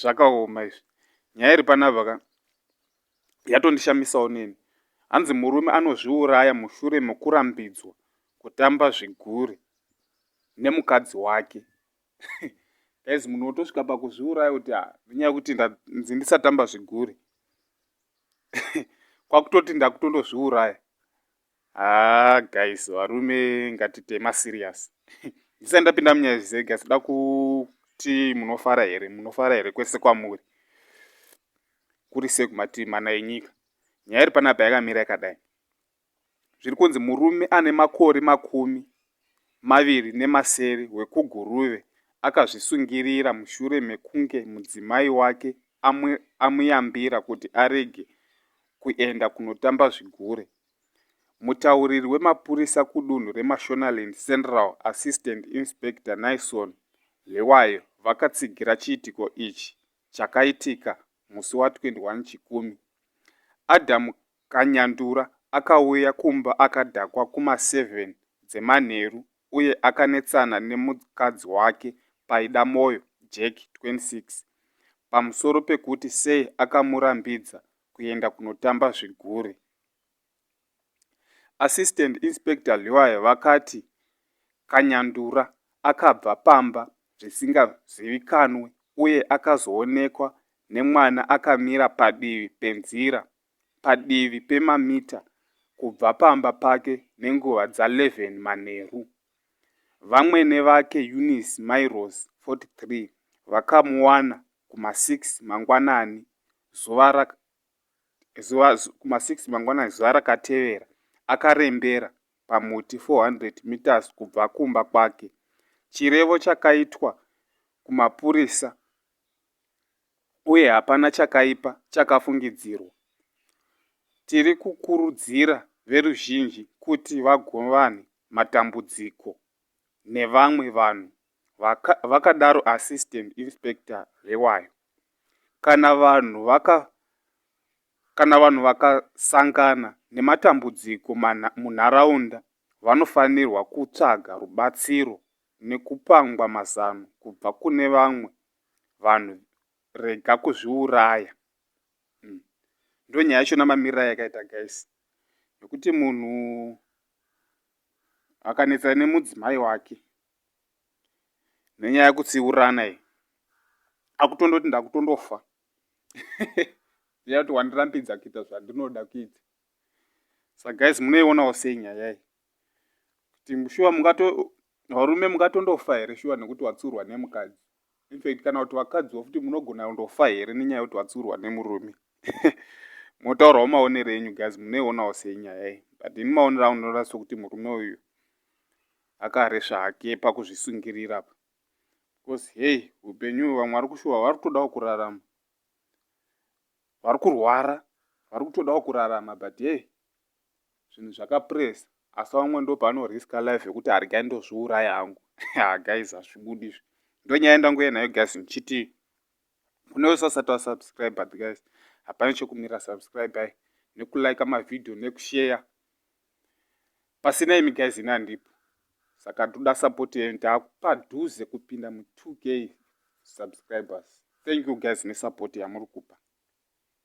zvakaoma izvi nyaya iri panapa ka yatondishamisawo neni hanzi murume anozviuraya mushure mekurambidzwa kutamba zvigure nemukadzi wake guys munhu wotosvika pakuzviuraya kuti ah, nenyaya yekuti ndanzi ndisatamba zvigure kwakutoti ndakutondozviuraya Haa guys varume ngatite maserious ndisati ndapinda munyaya zvizere guys da kuti munofara here munofara here kwese kwamuri kuri sei kumativi mana enyika nyaya iri panapa yakamira yakadai zviri kunzi murume ane makore makumi maviri nemasere hwekuGuruve akazvisungirira mushure mekunge mudzimai wake amuyambira kuti arege kuenda kunotamba zvigure. Mutauriri wemapurisa kudunhu reMashonaland Central Assistant Inspector Naison Hliwayo vakatsigira chiitiko ichi chakaitika musi wa 21 Chikumi. Adam Kanyandura akauya kumba akadhakwa kuma seven dzemanheru uye akanetsana nemukadzi wake Paidamoyo Jack 26 pamusoro pekuti sei akamurambidza kuenda kunotamba zvigure. Assistant Inspector Liwaye vakati Kanyandura akabva pamba zvisingazivikanwe uye akazoonekwa nemwana akamira padivi penzira padivi pemamita kubva pamba pake nenguva dza 11 manheru. Vamwene vake Eunice Mairose, 43, vakamuwana kuma 6 mangwanani zuva zuva kuma 6 mangwanani zuva rakatevera akarembera pamuti 400 meters kubva kumba kwake. Chirevo chakaitwa kumapurisa uye hapana chakaipa chakafungidzirwa. Tiri kukurudzira veruzhinji kuti vagovane matambudziko nevamwe vanhu, vakadaro Assistant Inspector Rewayo. Kana vanhu vaka kana vanhu vakasangana nematambudziko munharaunda vanofanirwa kutsvaga rubatsiro nekupangwa mazano kubva kune vamwe vanhu rega kuzviuraya mm. ndo nyaya yacho namamirira yakaita guys nekuti munhu akanetsana nemudzimai wake nenyaya yekutsiurana iyi akutondoti ndakutondofa ndeya kuti wandirambidza kuita zvandinoda kuita sa guys munoionawo sei nyaya iyi kuti shuwa mungato varume mungatondofa here shuwa nekuti watsiurwa nemukadzi infact kana kuti vakadzi vokuti munogona kundofa here nenyaya yekuti watsiurwa nemurume motaurawo maonero enyu guys munoionawo senyaya iyi but ini maonero angu ndinoona sokuti murume uyu akaresva hake pakuzvisungirira pa because hei upenyu vamwe vari kushuwa vari kutodawo kurarama vari kurwara vari kutodawo kurarama but hei zvinhu zvakapress asi vamwe ndopaano riska life yekuti hargai ndozviuraya hangu ha guys hazvibudi izvi ndonyaya yandanguya nayo guys ndichiti kune wese asati wasubscribe but guys hapana chekumira subscribe ai nekulike mavhidhiyo nekusheya pasina imi guys ini handipo saka toda support yenyu taakupadhuze kupinda mu 2 k subscribers thank you guys nesupport yamuri kupa